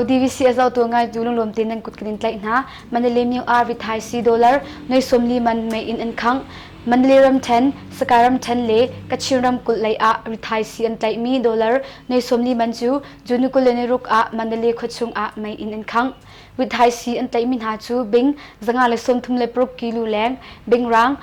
DVCS lotu ngaitu lunglawm te nan kut kanin tlaih hna Mandalay Myu R vi Thai C dollar noi somli man mei in an khang Mandalay ram then Sakai ram then le Kachin ram kul lei ah ri Thai C an tlaih mi dollar noi somli man cu June kul le ni ruk ah Mandalay khawchung ah mei in an khang Withaisi an tlaihmi hna cu bing zanga le sawmthum le paruk kilu leng, bingrang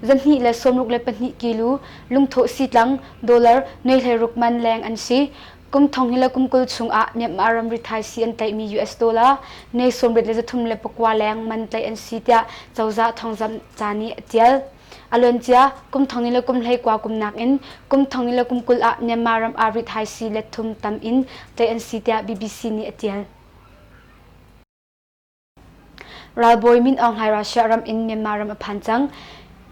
zanhnih le sawmruk le pahnih kilu, lungthawh sitlang dollar nuaihle ruk man leng an si. Kum thong hi le kum kul chungah Myanmar ramri thaisi an tlaihmi US dollar ne sawmrit le zathum le pakua leng man tlaih an si tiah cozah thawngzamh ca nih a tial. A luancia kum thong ni le kum hlei kua kum nakin kum thong ni le kum kul ah Myanmar ram ri thaisi let thum tam in tlaih an si tiah BBC nih a tial. Ralbawi Min Aung Hlaing Russia ram in Myanmar ram a phan cang.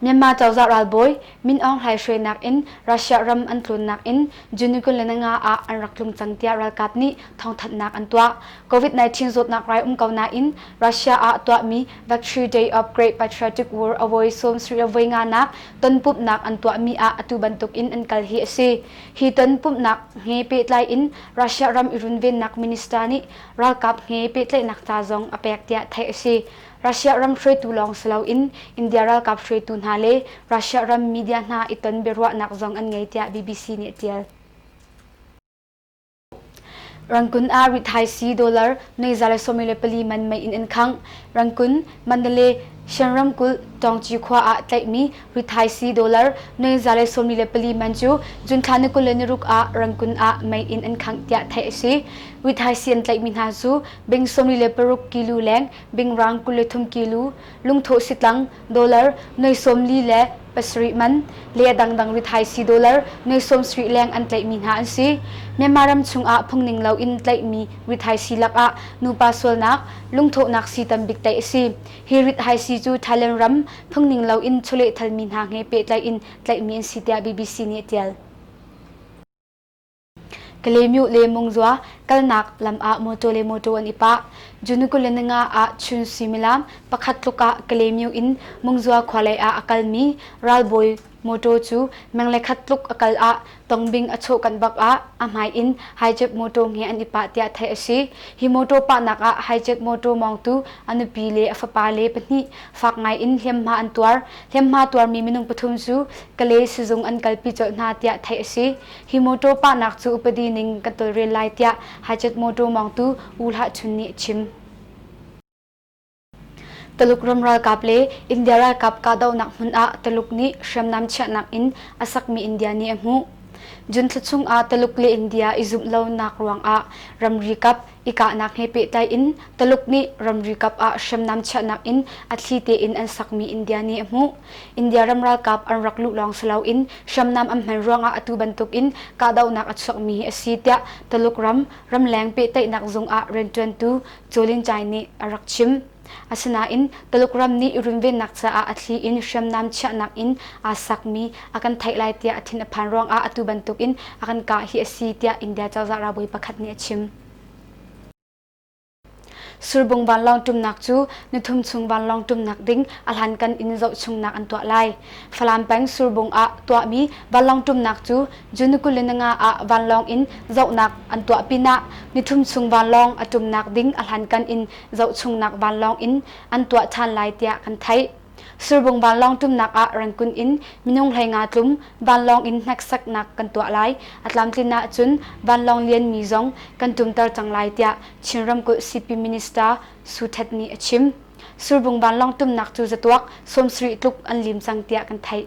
Myanmar cozah ralbawi Min Aung Hlaing hruainak in Russia ram an tlunnak in Junugun le Nanga ah an rak tlung cang tiah ralkap nih thawngthanhnak an tuah. COVID-19 zawtnak rai um ko nain Russia ah tuahmi Victory Day of Great Patriotic War awai sawmsarih a voi nganak ton pumhnak an tuahmi ah atu bantuk in an kal hi a si. Hi ton pumhnak he pehtlai in Russia ram i runvennak minister nih ralkap he pehtlaihnak ca zong a pek tiah theih a si. Russia ram hruaitu lawng si loin India ralkap hruaitu hna le Russia ram media hna i ton biaruahnak zong an ngei tiah BBC nih a tial. Rangkun ah rithaisi dollar nuihza le sawmi le pali man mei in an khangh. Rangkun, Mandalay, Shan ramkulh, Tawngci khua ah tlaihmi Hui Thai C dollar noi zale sawmli le pali man cu jun thla ni kul le ni ruk ah rangkun ah mei in an khangh tiah theih a si. Hui Thai C an tlaihmi hna cu bing sawmli le paruk kilu leng, bing rang kul le thum kilu, lungthawh sitlang dollar noi sawmli le pasarih man le a dangdang Hui Thai C dollar noi sawmsarih leng an tlaihmi hna an si. Myanmar ram chungah phungning loin tlaihmi Hui Thai C lakah nupa sualnak, lungthawhnak sii tambik tlaih a si. Hi rithaisi cu Thailand ram phungning loin chawlehthalmi hna he pehtlai in tlaihmi an si tiah BBC nih a tial. Kalemyo le Mungzua kalnak lam ah mawtaw le mawtaw an i pah. Junukulananga ah chun suimilam pakhat tluk ah Kalemyo in Mungzua khua lei ah a kalmi ralbawi Motor cu meng le khat tluk a kal ah tongbing a chawh kanh bak ah a hmai in hijack motor nge an i pah tiah theih a si. Hi motor pahnak ah hijack motor mawngtu a nupi le a fapa le pahnih fak ngai in hliamhma an tuar. Hliamhma tuarmi minung pathum cu Kale sizung an kalpi colh hna tiah theih a si. Hi motor pahnak cu upadi ning kan tolrel lai tiah hijack motor mawngtu U Hlah Chun nih a chim. Tuluk ram ralkap le India ralkap kahdohnak hmun ah Tuluk nih hriamnam chiahnak in a sakmi India nih a hmuh. Jun thla chung ah Tuluk le India i zumh lonak ruangah ramri kap i kahnak he pehtlai in Tuluk nih ramri kap ah hriamnam chiahnak in a thli tein an sakmi India nih a hmuh. India ram ralkap an rak luh lawng si loin hriamnam an hman ruangah atu bantuk in kahdohnak a chuakmi a si tiah Tuluk ram ramleng pehtlaihnak zung ah rianṭuantu Cawlincai nih a rak chim. Asinain Tuluk ram nih runvennak caah a thli in hriamnam chiahnak in aa sakmi a kan theih lai tiah a thin a phan ruangah atu bantukin a kan kah hi a si tiah India cozah ralbawi pakhat nih a chim. Surbung vanlawng ṭumnak cu nithum chung vanlawng ṭumnak ding a hlankan in zoh chungnak an tuah lai. Falam peng Surbung ah tuahmi vanlawng ṭumnak cu Junukulinanga ah vanlawng in zohnak an tuah pinah nithum chung vanlawng a ṭumnak ding a hlankan in zohchungnak vanlawng in an tuah ṭhan lai tiah kan theih. Surbung vanlawng ṭumnak ah Rankun in minung hleinga tlum vanlawng in hneksaknak kan tuah lai. A tlamtlin ahcun vanlawng lianmi zong kan tumter cang lai tiah Chin ramkulh CP Minister Su Htet nih a chim. Surbung vanlawng tumnak cu zatuak sawmsarih tluk an lim cang tiah kan theih.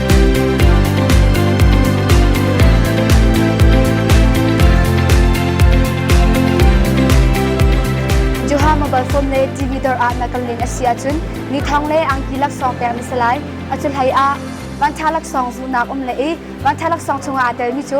Joha mobile phone le TV dor ah na kan len a si ahcun ni thong le angki laksawng pek na si lai. A cu hlei ah vantha laksawng zu nak um le i vantha laksawng chungah aa telmi cu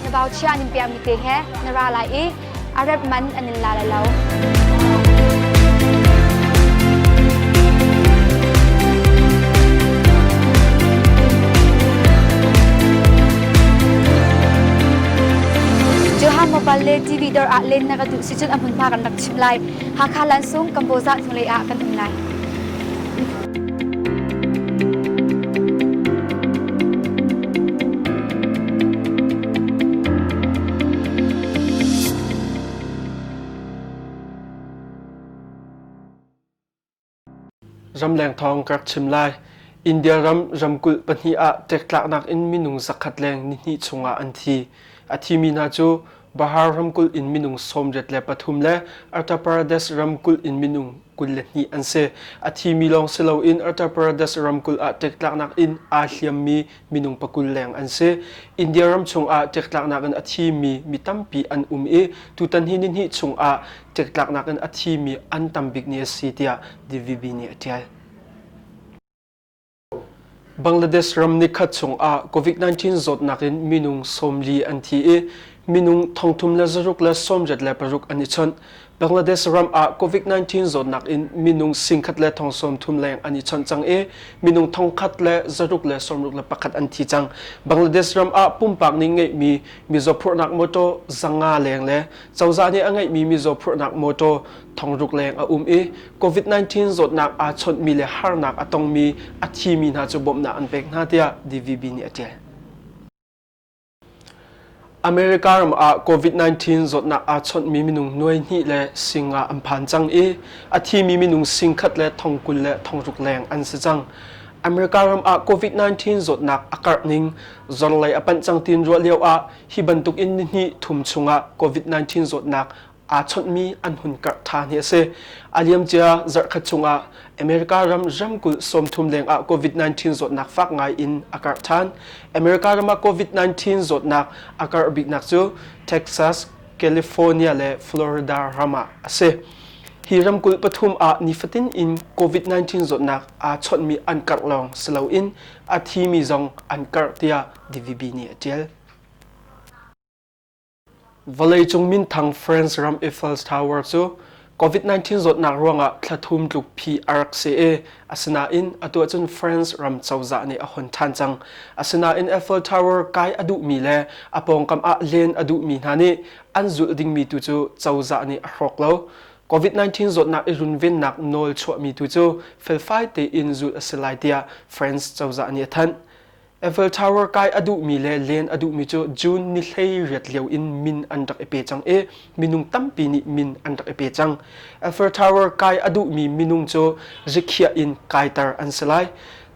Ngabauchia nan piahmi te he na ra lai i Arab man an in la lai lo. Johan Mobile le TV dor ah len na ka duh si cun a hmunhma kan rak chim lai. Hakha lansung Kamboza hnulei ah kan um lai. Ramleng thawng ka rak chim lai. India ram ramkulh pahnih ah ṭektlaknak in minung zakhat leng nihnih chungah an thi. A thimi hna cu Bahar ramkulh in minung sawmriat le pathum le Uttar Pradesh ramkulh in minung kul le hnih an si. A thimi lawng si loin Uttar Pradesh ramkulh ah ṭektlaknak in aa hliammi minung pakul leng an si. India ram chungah ṭektlaknak in a thimi mi tampi an um i tutan hi nihnih chungah ṭektlaknak in a thimi an tam bik ni a si tiah DVB nih a ṭial. Bangladesh ram nikhat chungah COVID-19 zawtnak in minung sawmli an thi i minung thongthum le zaruk le sawmriat le paruk an i chawnh. Bangladesh ram ah COVID-19 zawtnak in minung singkhat le thong sawmthum leng an i chawnh cang i minung thongkhat le zaruk le sawmruk le pakhat an thi cang. Bangladesh ram ah pumpak ning ngeihmi mizaw phurhnak mawtaw zanga leng le cozah nih a ngeihmi mizaw phurhnak mawtaw Thongruk leng a um i COVID-19 zawtnak aa chawnhmi le harnak a tongmi a thimi hna cu bawmhnak an pek hna tiah DVB nih a ṭial. America ram ah COVID-19 zawtnak aa chawnhmi minung nuai hnih le sing nga an phan cang i a thimi minung sing khat le thong kul le thongruk leng an si cang. America ram ah COVID-19 zawtnak a karh ning zorlei a panh cang tin ruah lio ah hi bantuk in nihnih thum chung ah COVID-19 zawtnak aa chawnhmi an hun karh ṭhan hi a si. A liamcia zarhkhat chungah America ram ramkulh sawmthum lengah COVID-19 zawtnak fak ngai in a karh ṭhan. America ram ah COVID-19 zawtnak a karh biknak cu Texas, California le Florida ram ah a si. Hi ramkulh pathum ah nifatin in COVID-19 zawtnak aa chawnhmi an karh lawng si loin a thimi zong an karh tiah DVB nih a ṭial. Vawleicung minthang France ram Eiffel Tower cu COVID-19 zawtnak ruangah thlathum tluk phi a rak si i, asinain atu ahcun France ram cozah nih a hon ṭhan cang. Asinain Eiffel Tower kai a duhmi le a pawngkam ah len a duhmi hna nih an zulh dingmi tu cu cozah nih a hrawk lo. COVID-19 zawtnak i runvennak nawl chuahmi tu cu felfai tein zulh a si lai tiah France cozah nih a thanh. Eiffel Tower kai a duhmi le len a duhmi cu June ni hleiriat lio in min an rak i pe cang i minung tampi nih min an rak i pe cang. Eiffel Tower kai a duhmi minung cu rikhiah in kaiter an si lai.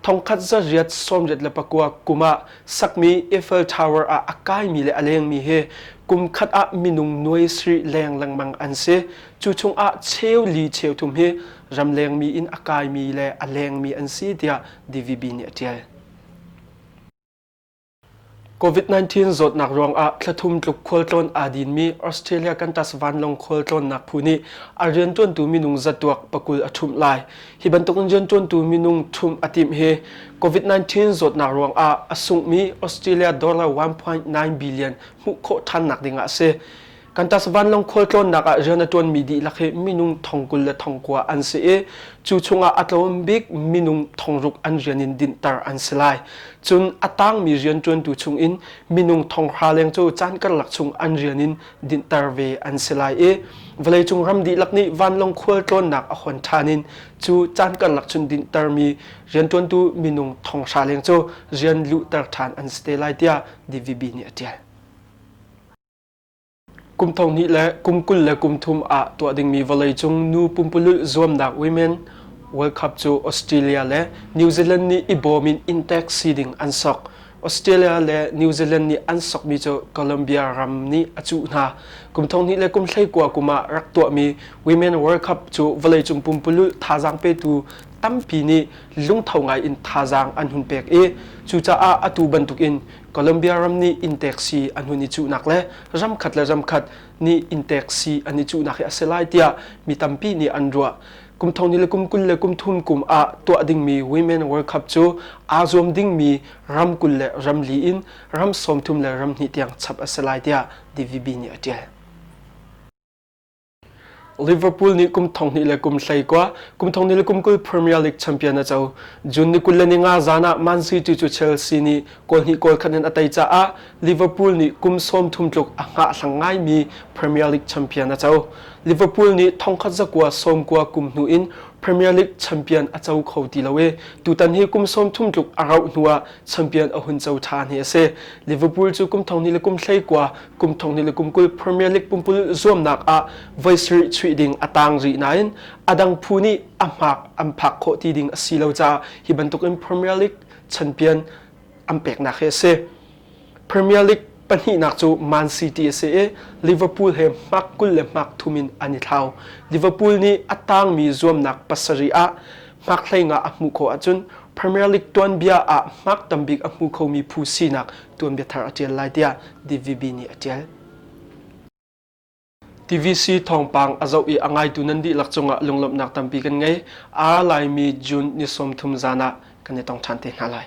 Thongkhat zariat sawmriat le pakua kum ah sakmi Eiffel Tower ah a kaimi le a lengmi hi kum khat ah minung nuai sri leng lengmang an si. Cu chung ah cheu li cheu thum hi ramlengmi in a kaimi le a lengmi an si tiah DVB nih a ṭial. COVID-19 zawtnak ruangah thlathum tluk khualtlawn aa dinmi Australia Kantas vanlawng khualtlawnnak phu nih a riantuantu minung zatuak pakul a ṭhumh lai. Hi bantukin riantuantu minung ṭhumh a timh hi COVID-19 zawtnak ruangah a sungmi Australia dollar 1.9 billion hmuh khawh ṭhannak dingah a si. Kantas vanlawng khualtlawnnak ah rian a ṭuanmi dihlak hi minung thong kul le thong kua an si i cu chungah a tlawm bik minung thong ruk an rian in dinhter an si lai. Cun a tangmi rianṭuantu chungin minung thong hra leng cu caan karlak chung an rian in dinhter ve an si lai i vawleicung ram dihlak nih vanlawng khualtlawnnak a hon ṭhan in cu caan karlak chung dinhtermi rianṭuantu minung thong hra leng cu rian luhter ṭhan an si te lai tiah DVB nih a ṭial. Kum thonghnih le kum kul le kum thum ah tuah dingmi vawleicung nu pumpululh zuamnak women World Cup cu Australia le New Zealand nih i bawm in intek si ding an sok. Australia le New Zealand nih an sokmi cu Colombia ram nih a cuh hna. Kum thonghnih le kum hleikua kum ah rak tuahmi Women World Cup cu vawleicung pumpululh thazaang petu tampi nih lungtho ngai in thazaang an hun pek i cucaah atu bantukin Colombia ram nih intek si an hun i cuhnak le ramkhat le ramkhat nih intek si an i cuhnak hi a si lai tiah mi tampi nih an ruah. Kum thong ni le kum kul le kum thum kum ah tuah dingmi Women World Cup cu aa zuam dingmi ram kul le ram li in ram sawmthum le ram hnih tiang chap a si lai tiah DVB nih a ṭial. Liverpool nih kum thong hnih le kum hlei kwa kum thong hnih le kum kul Premier League champion a co June ni kul le ni nga zan ah Man City cu Chelsea nih goal hnih goal khat in a tei caah Liverpool nih kum sawm thum tluk a ngah thlang ngai mi Premier League champion a co Liverpool nih thongkhat zakua sawm kua kum hnu in Premier League champion a co kho ti lo e tutan hi kum sawm thum tluk a rauh hnu ah champion a hun co than hi a si Liverpool cu kum thong hnih le kum hlei kwa kum thong ni le kum kul Premier League pumpululh zuamnak ah voi sarih chuih ding a tang rih nain adang phu nih a hmak an phak khawh ti ding a si lo ca hi bantuk in Premier League champion an peknak hi a si Premier League pahnihnak cu Man City a si i Liverpool he hmak kul le hmak thum in an i thlau Liverpool nih a tangmi zuamnak pasarih ah hmakhlei nga a hmuh khawh ahcun Premier League tuanbia ah hmak tam bik a hmu khomi phu sinak tuanbia thar a ṭial lai tiah DVB nih a ṭial. TVC thawngpang a zoh i a ngaitu nan dihlak cungah lunglawmhnak tampi kan ngei. A laimi June ni sawm thum zan ah kan i tong ṭhan te hna lai.